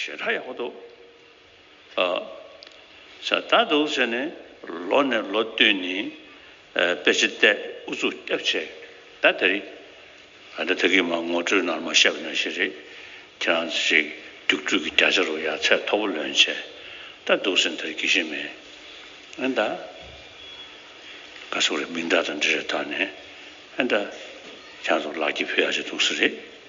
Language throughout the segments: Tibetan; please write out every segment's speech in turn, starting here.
ཞེ་དྲག་ཡག་པོ་འདུག་ཨ། ཞེ་དྲག་འདུག་ཟེར་ནས་ལོ་ནས་ལོ་བསྟུན་ནས་དཔེ་ཆ་བལྟས་ཨུ་ཚུགས་སྐྱབས་བྱས་ད་དེ་རེད། ཨ་འདྲ་ཐ་གིས་མ་ངོ་སྤྲོད་ནར་མ་བཤད་པ་ནོར་ཞིག་རེད། ཁྱེད་རང་ཚོ་ཞིག་རྒྱུགས་སྤྲོད་ཀྱི་བརྒྱ་ཆ་རུ་ཡར་ཚད་མཐོ་པོ་ལོན་བྱས་ད་འདུག་ཟེར་འདིར་སྐྱེ་ཤི་མེད་ཨེ་འདྲ། ཁ་སོག་རེད་མིང་འདྲ་དང་འདྲི་རེད་ད་ནས་ཨེ་འདྲ། ཁྱེད་རང་ཚོ་ལག་ཁྱི་ཕུད་ཡག་ཅིག་འདུག་ཟེར་རེད།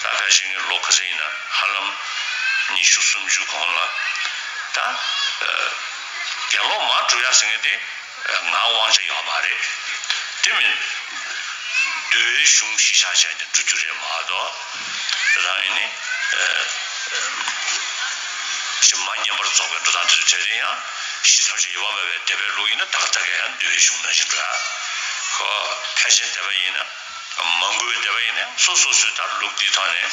ད་ལྟ་བཞིན་གྱི་ལོ་ག་ཚོད་ཡིན་ན་ཧ་ལམ་ཉི་ཤུ་སུམ་ཅུ་གོང་ལ། ད་རྒྱ་ལོ་མ་དྲུག་ཡར་ཟེར་མཁན་དེ་ང་དབང་ཆ་ཡོད་མ་རེད། དེ་མིན་བདུད་བླའི་གཞུང་གཞིས་ཆགས་ཆགས་ཀྱིས་འགྲོ་རྒྱུ་རེད་མ་གཏོགས། རང་ཉིད་ནི་གཞི་མ་བསྙེན་པར་རྫོགས་པའི་འགྲོ་སྟངས་དེ་ཚོ་བྱས་རིང་ཡང་གཞི་ཐམས་ཅད་ཡོད་པ་མེད་པའི་དད་པའི་ལུགས་ཡིན་ན་ད་ག་ད་ག་ཡང་བདུད་བླའི་གཞུང་ནང་བཞིན་འགྲོ་ཡ། ཁོ་ཕལ་ཆེར་དད་པ་ཡིན་ན་མང་པོའི་འདས་པ་ཡིན་ནའི་སོ་སོ་སོའི་ད་ལུགས་དེའི་ཐོག་ནས་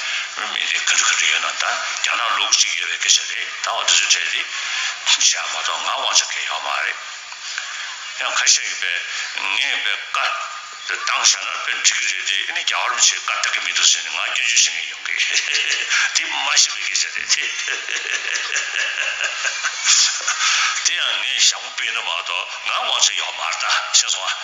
མི་དེ་ག་དུས་ག་དུས་ཡོད་ན་ད་རྒྱ་ནག་ལུགས་གཅིག་ཡོད་པའི་སྐད་ཆ་རེད་ད་འོ་དེ་ཚོའི་གྲས་དེ་བཞག་མ་གཏོགས་ང་དབང་ཆ་གལ་ཡོད་མ་རེད། ཡང་ཁ་ཤས་ཡོད་པས་ངས་དཔེ་ཀ་དེ་བཏང་བཞག་ན་དཔེ་འགྲིག་གི་རེད་དེ་ཨེ་ནས་རྒྱ་གར་མི་ཚོས་ཀ་བལྟ་གི་མི་འདུག་ཟེར་ནས་ང་སྐྱོན་བརྗོད་བྱེད་ངེས་ཡོང་གི་དེ་མ་ཤེས་པའི་སྐད་ཆ་རེད་དེ། དེ་ཡང་ངས་ཞྭ་མོ་སྤེལ་ན་མ་གཏོགས་ང་དབང་ཆ་ཡོད་མ་རེད་ད་ཤེས་སོང་ཨ།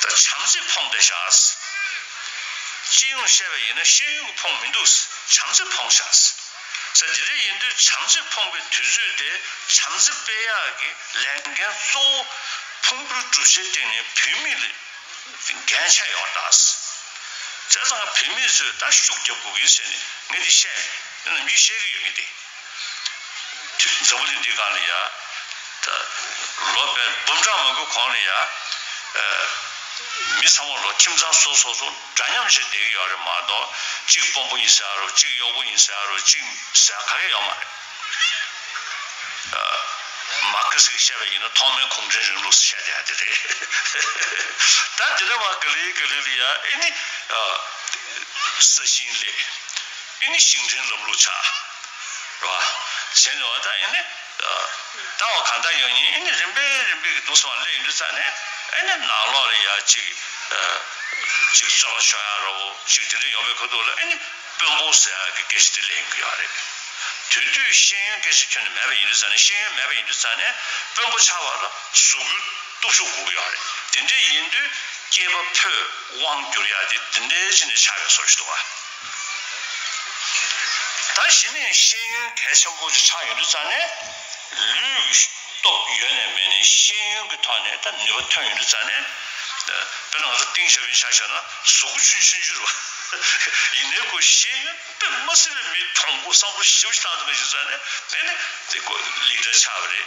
ད་བྱམས་བརྩེ་ཕོངས་ཏེ་བཞག། སྤྱི་ཡོངས་བཤད་པ་ཡིན་ན་ཤེས་ཡོན་གྱི་ཕོངས་མི་འདུག་བྱམས་བརྩེ་ཕོངས་བཞག། ས་དེ་རེད་ཡིན་དུས་བྱམས་བརྩེ་ཕོངས་པའི་དུས་ཚོད་དེ་བྱམས་བརྩེ་སྤེལ་ཡག་གི་ལས་འགན་གཙོ་བོ་ཕུང་པོའི་གྲུབ་ཆའི་སྟེང་ནས་བུད་མེད་ལ་འགན་ཆད་ཡོང་གདའ། དེ་ཚང་བུད་མེད་ཚོས་ད་ཤུགས་རྒྱབ་དགོས་གི་ཟེར་ནས་ངས་དེ་བཤད་མེད། དེ་རྣམས་ཀྱིས་བཤད་གི་ཡོད་ངེས་ཏེ། ཁྱོད་ཀྱི་མཛའ་བོ་དེ་འདི་གང་ལ་ཡ། ད་ལོ་བས་འབུམ་ཕྲག་མང་པོའི་གོང་ལ་ཡ། མི་ཚང་མ་ལོ་ཁྱིམ་ཚང་སོ་སོ་སོ་འདྲ་མཉམ་ཞིག་བསྡད་ཀྱི་ཡོད་རེད་མ་གཏོགས་གཅིག་དཔོན་པོ་ཡིན་ཟེར་ཡ་རུ་གཅིག་གཡོག་པོ་ཡིན་ཟེར་ཡ་རུ་གཅིག་ཟེར་ག་གེ་ཡོད་མ་རེད། མར་ཁེ་སི་གིས་བཤད་པའི་ཡིན་ན་ཐོག་མའི་གུང་ཁྲན་རིང་ལུགས་སུ་བཤད་བསྡད་ཡ་དེ་རེད། ད་དེ་འདྲ་བ་ག་ལེ་ག་ལེ་ལ་ཡ་ཨེ་ནི། ས་ཞིང་ལས། དེ་ནི་ཞིང་བྲན་སློབ་ལུགས་ཆགས། རེད་བ། གཞན་ལས་བ་ད་ཨེ་ནི། ད་བ་གང་ད་ཡོད་ཉིན་ཨེ་ནི་རིམ་པས་རིམ་པས་གི་འདུག་སོང་བ་ལས་ཡིན་དུ་ཚ་ནི། ཨེ་ནི་ནང་ལོག་ལ་ཡ་གཅིག་གི། གཅིག་གི་ཚོད་ལ་ཤོག་ཡ་རོ་ཞིག་དེ་འདྲས་ཡོང་བས་ཁོ་འདུག་ལ་ཨེ་ནི། དཔོན་པོ་ཟེར་ཡ་གི་སྐད་ཞིག་དེ་ལས་ཡིན་དགོས་ཡ་རེད། དུས་དུས་ཤེས་ཡོན་སྐད་ཞིག་ཁྱོན་ནས་མེད་པ་ཡིན་དུ་ཚ་ནི་ཤེས་ཡོན་མེད་པ་ཡིན་དུ་ཚ་ནི། དཔོན་པོ་ཆགས་པ་ལ་ཟུག་གུ་སྟུག་ཤོག་གུག་ཡ་རེད་དེ་འདྲས་ཡིན་དུས་སྐྱེས་པ་ཕོས་དབང་བསྒྱུར་ཡ་དེ་དེ་འདྲས་ཅི་ནས་ཆགས་པའི་སོར་ཞིག་འདུག་བ། ད་གཞི་ནས་ཤེས་ཡོན་གལ་ཆེན་པོ་ཅིག་ཆགས་ཡོང་དུས་ཙང་ནས། ལུས་ཀྱི་སྟོབས་ཡོད་ནས་མེད་ནས་ཤེས་ཡོན་གྱི་ཐོག་ནས་ད་ནུས་པ་ཐོན་ཡོང་དུས་ཙང་ནས། དཔེར་ན་ང་ཚོ་ཏིང་ཞའོ་ཕིན་ཤག་ཤོད་ན་གཟུགས་པོ་ཆུང་ཆུང་གྱུར་བ། ཡིན་ནའི་ཁོ་ཤེས་ཡོན་དཔེ་མ་སྲིད་པའི་མི་མཐོང་སྒོ་སྲང་པོ་ཞིབ་ཅིག་བཏང་ཐུབ་མཁན་ཡོད་ཙང་ནས་དེ་ནི་དེ་ལེགས་གྲ་ཆགས་པ་རེད།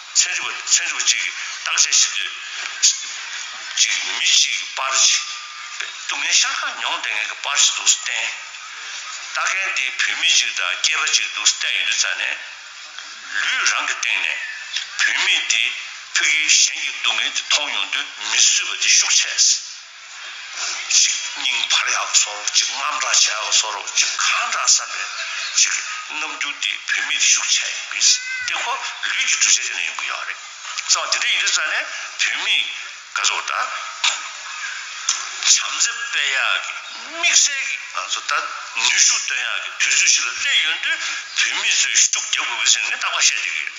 ཚན་རིག་པ་ཚན་རིག་པ་གཅིག་གིས་བརྟག་དཔྱད་བྱེད་དུས། གཅིག་མི་གཅིག་གི་པར་ཞིག་སྟུག་ངའི་ཤ་ཁ་མྱོང་བདེ་ངེས་ཀྱི་པར་ཞིག་འདུག་བསྟན། ལྟ་མཁན་དེ་བུད་མེད་ཅིག་དང་སྐྱེས་པ་གཅིག་འདུག་བསྟན་ཡོད་དུས་ཚར་ནས། ལུས་རང་གི་སྟེང་ནས་བུད་མེད་དེ་ཕུད་ཀྱིས་གཞན་གྱི་སྡུག་བསྔལ་དེ་མཐོང་མྱོང་དུས་མི་བཟོད་པ་དེ་ཤུགས་ཆེ། གཅིག་སྙིང་འཕར་ཡག་གི་སོ་རོག་གཅིག་དམར་འདྲ་བྱས་ཡག་གི་སོ་རོག་གཅིག་ག་འདྲ་བསམ་པའི་གཅིག་རྣམ་འགྱུར་དེ་བོད་མིས་ཤུགས་ཆེ་ཡིན་པའི་སྟེ་ཁོ་ལུས་ཀྱི་འདུ་ཤེས་དེ་ནས་ཡོང་གི་ཡོད་རེད་བསམ་དེ་འདྲ་ཡིན་དུས་ས་ནས་བོད་མིས་སྐལ་བཟོ་དང། བྱམས་བརྩེ་སྤེལ་ཡག་གི་དམིགས་བསལ་གྱི་ང་ཚོ་ལྟར་ནུས་ཤུགས་བཏོན་ཡག་གི་དུས་ཚོད་ཞིག་ལ་སླེབས་ཡོད་དུས་བོད་མིས་ཚོས་ཤུགས་རྒྱབ་དགོས་གི་ཟེར་ངས་རྟག་པར་བཤད་བསྡད་ཀྱི་ཡོད།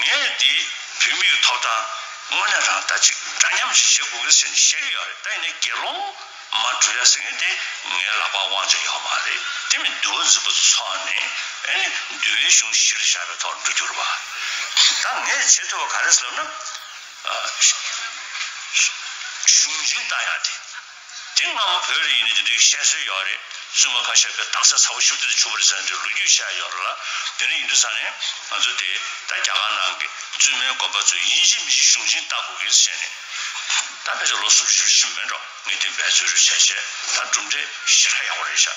ངས་འདི་བུད་མེད་ཀྱི་ཐོབ་ཐང་དངོས་གནས་རང་ལྟ་ཅིག་འདྲ་མཉམ་ཞིག་བྱེད་དགོས་གི་ཟེར་ནས་བཤད་ཀྱི་ཡོད་རེད་ད་ཡིན་ནའི་དགེ་སློང་མ་འགྲོ་ཡ་ཟེར་མཁན་དེ་ངའི་ལག་པར་དབང་ཆ་ཡོད་མ་རེད་དེ་མིན་འདུལ་བ་འཛིན་པ་ཚོ་ནི་ཨེ་ནི་འདུལ་བའི་གཞུང་གཞིར་བཞག་པའི་ཐོག་འགྲོ་རྒྱུ་རེད་བ་ད་ངས་བྱེད་ཐུབ་པ་ག་རེད་ཟེར་ན་གཞུང་འཛིན་བཏང་ཡ་དེ། དེ་སྔ་མོ་བོད་རིགས་ཡིན་ན་དེ་འདྲའི་བཤད་སྲོལ་ཡོད་རེད་བཙུན་མ་ཁ་ཤས་པའི་རྟགས་གསལ་ཚ་བོ་ཤུབ་རྡོ་རྗེ་ཆུང་བར་ཟེར་འདྲའི་ལོ་རྒྱུས་བཤད་ཡོད་རེད་ལ་དེ་འདྲ་ཡིན་དུས་ས་ནས་ང་ཚོ་དེ་ད་རྒྱ་གར་ནང་གི་བཙུན་མའི་དགོན་པ་ཚོས་ཡིན་གཅིག་མིན་གཅིག་གཞུང་ཆེན་བལྟ་དགོས་གལ་ཆེ་ནས་ད་ཕལ་ཆེར་ལོ་སུམ་ཅུ་བཞི་བཅུ་མིན་འགྲོ་ངས་དེ་འབད་རྩོད་རེ་བྱས་བྱས་ད་གྲུབ་འབྲས་ཞེ་དྲག་ཡག་པོ་རེད་ཤག།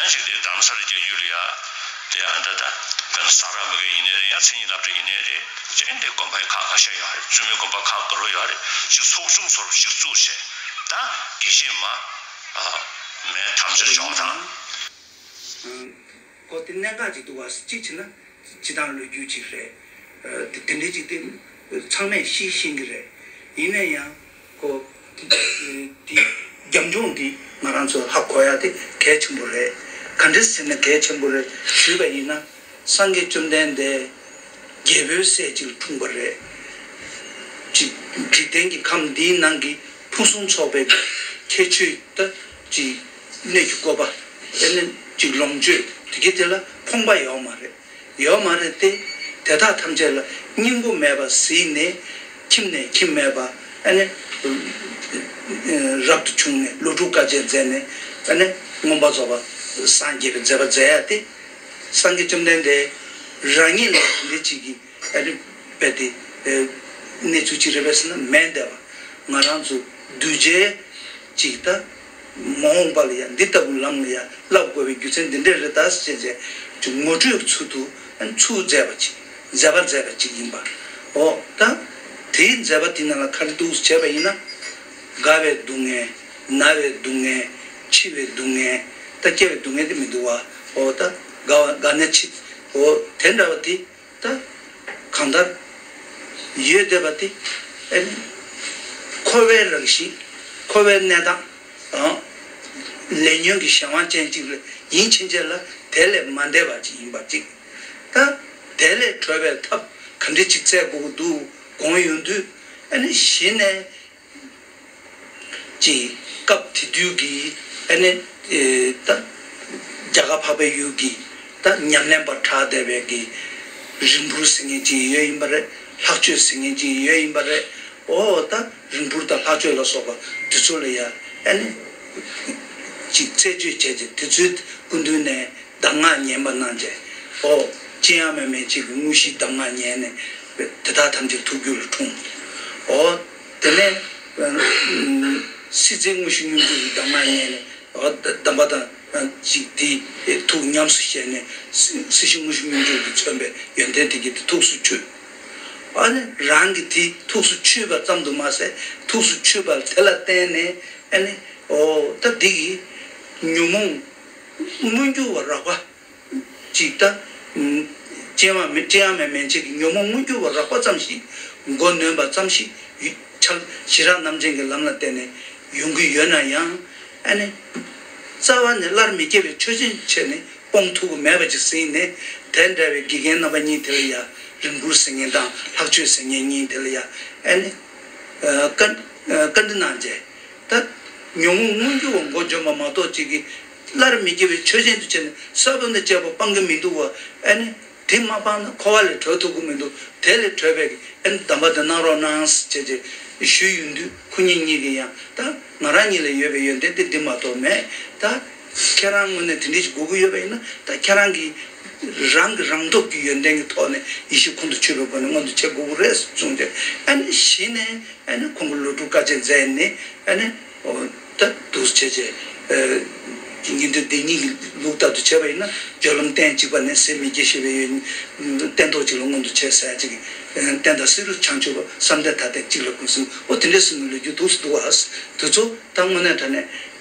ཡང་ཞིག་དེ་གདམ་སར་རྒྱལ་རྒྱུ་ལ་ཡ། དེ་ཡང་འདྲ་འདྲ། དེ་ལ་སང་ར་མི་ག་ཡིན་ནའི་རེད་ཡང་ཚེ་ཉིན་ལབ་གྲ་ཡིན་ནའི་རེད། དྲན་དེ་དགོན་པའི་ཁག་ཁག་བཤད་ཡོད་རེད་བཙུན་མོའི་དགོན་པ་ཁག་གི་རོ་ཡོད་རེད་ཅིག་ཚོགས་ཆུང་ཚོར་ཅིག་བཙུགས་བྱས། ད། དགེ་བཤེས་མ། མའི་དམ་ཆོས་སྦྱོང་བ་དང། གོ་དེ་གནད་འགག་ཅིག་འདུག་བ་གཅིག་བྱས་ན། སྤྱི་དང་ལོས་རྒྱུས་ཅིག་རེད། དེ་འདྲའི་ཅིག་དེ། ཚང་མས་ཤེས་ཤེས་གི་རེད། ཡིན་ནའི་ཡང། ཀོ། དེ་རྒྱབ་ལྗོངས་འདི་ང་རང་ཚོས་ཧ་གོ་ཡ་དེ་གལ་ཆེན་པོ་རེད། ག་འདྲེ་ཟེར་ན་གལ་ཆེན་པོ་རེད་ཞུས་པ་ཡིན་ན། སངས་རྒྱས་བཅོམ་ལྡན་འདས་རྒྱལ་པོའི་སྲས་གཅིག་འཁྲུངས་པ་རེད། ཀྱི། འཇིག་རྟེན་གྱི་ཁམས་འདིའི་ནང་གི་ཕུན་སུམ་ཚོགས་པའི་ཁྱད་ཆོས། ཀྱི། གནས་ཀྱི་བཀོད་པ། ཀྱི། ལོངས་སྤྱོད། དེ་གི་དེ་ལ་ཕོངས་པ་ཡོག་མ་རེད། ཡོད་མ་རེད་དེ། དེ་དག་ཐམས་ཅད་ལ་སྙིང་པོ་མེད་པར་གཟིགས་ནས། ཁྱིམ་ནས་ཁྱིམ་མེད་པ། རབ་ཏུ་བྱུང་ནས་ལོ་དྲུག་དཀའ་སྤྱད་མཛད་ནས། མངོན་པར་རྫོགས་པར་སངས་རྒྱས་པའི་མཛད་པ་མཛད་ཡ་སྟེ། སངས་རྒྱས་བཅོམ་ལྡན་འདས་རང་ཉིད་ལ་དེ་འདྲའི་ཅིག་གིས་དཔེ་དེ། གནས་ཚུལ་ཅིག་རེད་པས་ཟེར་ན་མེད་འདས་པ། ང་རང་ཚོ་གདུལ་བྱའི་ཅིག་དང། མ་འོངས་པ་ལ་ཡང་འདི་ལྟ་བུའི་ལམ་ལ་ཡང་བསླབ་དགོས་པའི་རྒྱུ་མཚན་འདི་འདྲའི་རི་དྭགས་སེར་བྱེས་ཀྱི་ངོ་སྤྲོད་ཀྱི་ཚུལ་དུ་ཚུལ་མཛད་པ་ཅིག་མཛད་པ་མཛད་པ་ཅིག་ཡིན་པའོ། ད་དེའི་མཛད་པ་དེ་རྣམས་ལ་ཁ་ལི་ཏུགས་སུ་བྱས་པ་ཡིན་ན། རྒ་བའི་སྡུག་བསྔལ། ན་བའི་སྡུག་བསྔལ། འཆི་བའི་སྡུག་བསྔལ། ད་སྐྱེ་བའི་སྡུག་བསྔལ་དེ་མི་འདུག་བའོ། ད་རྒ་བ་རྒ་ན་འཆིའོ། དེ་འདྲ་བ་དེ་ད། གང་ལྟར། ཡོད་བསྡད་པ་དེ། ཨེ་མིན། འཁོར་བའི་རང་བཞིན། འཁོར་བའི་གནས་སྟངས། ལས་ཉོན་གྱི་གཞན་དབང་ཅན་གཅིག་ལ་ཡིད་ཕྱིན་ཆད་ལ་དེ་ལས་མ་འདས་པ་ཅིག་ཡིན་པར་གཅིག། ད། དེ་ལས་གྲོལ་བའི་ཐབས་ག་འདྲི་ཅིག་བཙལ་དགོས་ཀྱི་འདུག་དགོངས་ཡོང་དུས། ཨེ་ནི་གཞི་ནས་ཅེས་སྐབས་དེ་དུས་ཀྱི་ཨ་ནེ་ད་རྒྱ་གར་འཕགས་པའི་ཡུལ་གྱི་ད་ཉམས་ལེན་པར་གྲགས་བསྡད་པའི་གི་རིང་འཕུར་ཟེར་མཁན་ཅིག་ཡོད་ཡིན་པ་རེད་ལྷག་སྤྱོད་ཟེར་མཁན་ཅིག་ཡོད་ཡིན་པ་རེད་འོ་ད་རིང་འཕུར་དང་ལྷག་སྤྱོད་ལ་སོགས་པ་དེ་ཚོ་ལ་ཡང་ཨ་ནེ་ཅིག་རྩད་གཅོད་བྱས་ཏེ་དེ་ཚོའི་སྐུ་མདུན་ནས། གདམས་ངག་ཉན་པ་རྣམས་ཀྱིས། ཨོ། ཅི་ཡང་མི་སྨྲའི་ཕྱིར་དངོས་གཞིའི་གདམས་ངག་ཉན་ནས། དེ་དག་ཐམས་ཅད་ཐུགས་རྒྱུད་ལ་འཁྲུངས། ཨོ། དེ་ནས། སྲིད་རྩེའི་དངོས་གཞི་སྙོམས་འཇུག་གི་གདམས་ངག་ཉན་ནས། ཨོ། གདམས་པ་དང། ཅིག། དེའི་ཐུགས་ཉམས་སུ་བཞེས་ནས། སྲིད་ཞི་དངོས་གཞི་སྙོམས་འཇུག་གིས་མཚོན་པའི་ཡོན་ཏན་དེ་བརྒྱད་དེ་ཐུགས་སུ་ཆུད། ཨོ། རང་གི་དེ་ཐུགས་སུ་ཆུད་པ་ཙམ་དུ་མ་ཟད་ཐུགས་སུ་ཆུད་པ་དེ་ལ་བརྟེན་ནས། ཨོ། ད། འདི་ཡིས། ཉོན་མོངས། མངོན་གྱུར་བ་རགས་པ། གཅིག་ལྟ། སྤྱན་དབང་མེད་སྤྱན་ཡང་མེད་མན་ཆད་ཀྱི་ཉོན་མོངས་མངོན་གྱུར་བ་རགས་པ་ཙམ་ཞིག་མགོ་ནོན་པ་ཙམ་ཞིག་ཕྱག་བཞི་རགས་རྣམ་ཅན་གྱི་ལམ་ལ་བརྟེན་ནས་ཡོང་གི་ཡོད་ན་ཡང། ཨ་ནི། རྩ་བ་ནས་སླར་མི་སྐྱེ་བའི་ཆོས་ཅན་ཆེས་ནི་སྤོང་ཐུབ་པ་མེད་པ་ཅིག་ཟིན་ནས་དེ་འདྲ་བའི་དགེ་རྒན་རྣམ་པ་གཉིས་དེ་ལ་ཡང་རིམ་བཀུར་ཟེར་ངེས་དང་ལྷག་སྤྱོད་ཟེར་ངེས་གཉིས་དེ་ལ་ཡང་ཨ་ནི། བཀའ་འདྲི་གནང་རྗེས། ད། ཉོན་མོངས་མངོན་གྱུར་བ་མགོ་འཇོམས་པ་མ་གཏོགས་ཅིག་གིས། སླར་མི་སྐྱེ་བའི་ཆོས་ཅན་དུ་བྱས་ནས་ས་རྡོ་འདི་བཅད་པ་སྤང་གིན་མི་འདུག་བ་ཨེ་ནི། དེ་མ་སྤངས་ན་འཁོར་བ་ལས་གྲོལ་ཐུབ་ཀྱིན་མི་འདུག་དེ་ལས་གྲོལ་བས་ཀྱི་ཨེ་འདམ་པ་འདི་གནང་རོགས་གནང། ཅེས་ཅེས་ཞུས་ཡོད་དུས་ཁོ་གཉིས་གཉིས་ཀྱིས་ཡང་ད། ང་རང་གཉིད་ལས་ཡོད་པའི་ཡོན་ཏན་དེ་འདི་མ་གཏོགས་མེད་ད། ཁྱེད་རང་དངོས་གནས་དེ་འདྲའི་ཞིག་དགོས་ཀྱི་ཡོད་པ་ཡིན་ན་ད་ཁྱེད་རང་གིས་རང་གི་རང་སྟོབས་ཀྱི་ཡོན་ཏན་གྱི་ཐོག་ནས་ཡིད་ཤེས་ཁོང་དུ་ཆུད་པའི་སྒོ་ནས་མངོན་དུ་བྱེད་དགོས་ཀྱི་རེད་ཟེར་གསུངས་ཏེ་ཨ་ནེ་གཞི་ནས་ཨ་ནེ་ཁོང་གི་ལོ་དྲུག་དཀའ་སྤྱད་མཛད་ནས་ཨ་ནེ་ད་དུར་བྱས་རྗེས་ཉིན་དོན་བདེན་གཉིས་ཀྱི་ལུགས་ལྟར་དུ་བྱས་པ་ཡིན་ན་སྦྱོར་ལམ་སྟན་གཅིག་པ་ནས་ཟིལ་མི་སྐྱེ་ཞེས་པའི་ཡོན་ཏན་ཐོག་གཅིག་ལ་མངོན་དུ་བྱས་ཟེར་ཅིག་བསྟན་དང་བསེ་རུ་བྱང་ཆུབ་བསམ་གཏན་ཐ་དད་གཅིག་ལ་ཀུན་གསུམ་ཨོ་དེ་འདྲའི་གསུང་གི་ལོ་རྒྱུས་དུག་སུ་འདུག་ཨ། དུས་ཚོད་ད་དངོས་གནས་ད་ནས།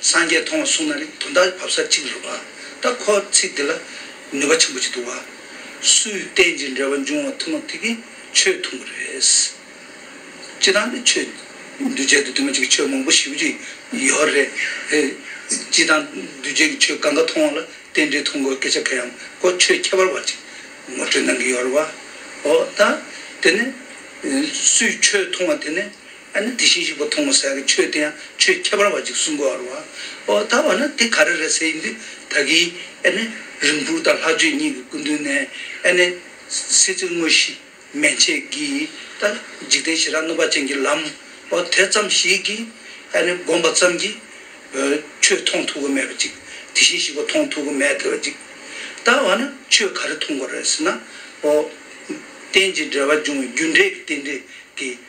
སངས་རྒྱས་མཐོང་བ་གསུངས་ན་རེ་དོན་དག་བབས་ས་གཅིག་ལ་རུབ་པ། ད་ཁོ་ཚིག་འདི་ལ་ནུས་པ་ཆེན་པོ་ཅིག་འདུག་བ། སུའི་རྟེན་ཅིང་འབྲེལ་བ་འབྱུང་བ་ཐུན་མོང་ཐིག་གིས་ཆོས་མཐོང་གི་རེད། སྤྱི་དང་ནི་ཆོས། འདུས་བྱས་དུ་དུ་མ་ཅིག་གི་ཆོས་མང་པོ་བཞི་པོ་ཅིག་ཡོད་རེད། སྤྱི་དང་འདུས་བྱས་ཀྱི་ཆོས་ག་འགའ་མཐོང་བ་ལ་རྟེན་འབྲེལ་ཐུན་གོ་སྐད་ཆ་ག་ཡང་གོ་ཆོད་ཁྱད་པར་བ་ཅིག་ངོ་སྤྲོད་གནང་གི་ཡོད་རེད་བ། ཨོ་ད། དེ་ནི། སུའི་ཆོས་མཐོང་བ་དེ་ནི། ཨ་ནི་དེ་བཞིན་གཤེགས་པ་མཐོང་བ་སའི་ཆོས་དེ་ཡང་ཆོས་ཁྱད་པར་བ་གཅིག་གསུངས་གོ། ཨོ་ད་བ་ན་དེ་ག་རེ་རེད་ཟེར་ཡིན་དུས་ད་གིས་ཨེ་ནི་རིམ་བུར་དང་ལྷག་སྤྱོད་གཉིས་ཀྱི་སྐུ་མདུན་ནས་ཨེ་ནི་སྲིད་རྩེ་དངོས་གཞི་མན་ཆད་ཀྱིས་ད་འཇིག་རྟེན་ཞི་རགས་གནོད་པ་ཅན་གྱི་ལམ་ཨོ་དེ་ཙམ་ཞིག་གིས་ཨེ་ནི་བསྒོམ་པ་ཙམ་གྱིས་ཆོས་མཐོང་ཐུབ་གི་མེད་པ་ཅིག་དེ་བཞིན་གཤེགས་པ་མཐོང་ཐུབ་གི་མེད་བ་ཅིག་ད་བ་ན་ཆོས་ག་རེ་མཐོང་དགོས་རེད་ཟེར་ན་ཨོ། རྟེན་ཅིང་འབྲེལ་བར་འབྱུང་བའི་རྒྱུ་འབྲས་ཀྱི་རྟེན་འབྲེལ་གྱི།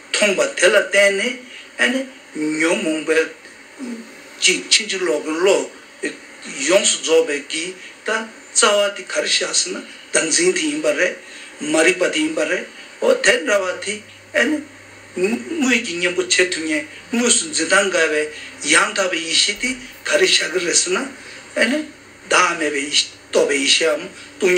མཐོང་པ་དེ་ལ་བརྟེན་ནས་ཨ་ནི་ཉོན་མོངས་པའི། ཅིག་ཕྱིན་ཅི་ལོག་གི་བློ། ཡོངས་སུ་རྫོགས་པའི་གི་ད་རྩ་བ་དེ་ག་རེ་བཞག་ཟེར་ན་བདག་འཛིན་དེ་ཡིན་པ་རེད། མ་རིག་པ་དེ་ཡིན་པ་རེད། འོ་དེ་འདྲ་བ་དེ་ཨ་ནི། དངོས་ཀྱི་གཉེན་པོ་བྱེད་ཐུབ་ངེས་དངོས་སུ་འཛིན་སྟངས་འགལ་བའི། ཡང་དག་པའི་ཡེ་ཤེས་དེ་ག་རེ་བཞག་གི་རེད་ཟེར་ན། ཨ་ནི། བདག་མེད་པའི་ཡེ་ཤེས་རྟོགས་པའི་ཡེ་ཤེས་འམ་སྟོང་ཉིད།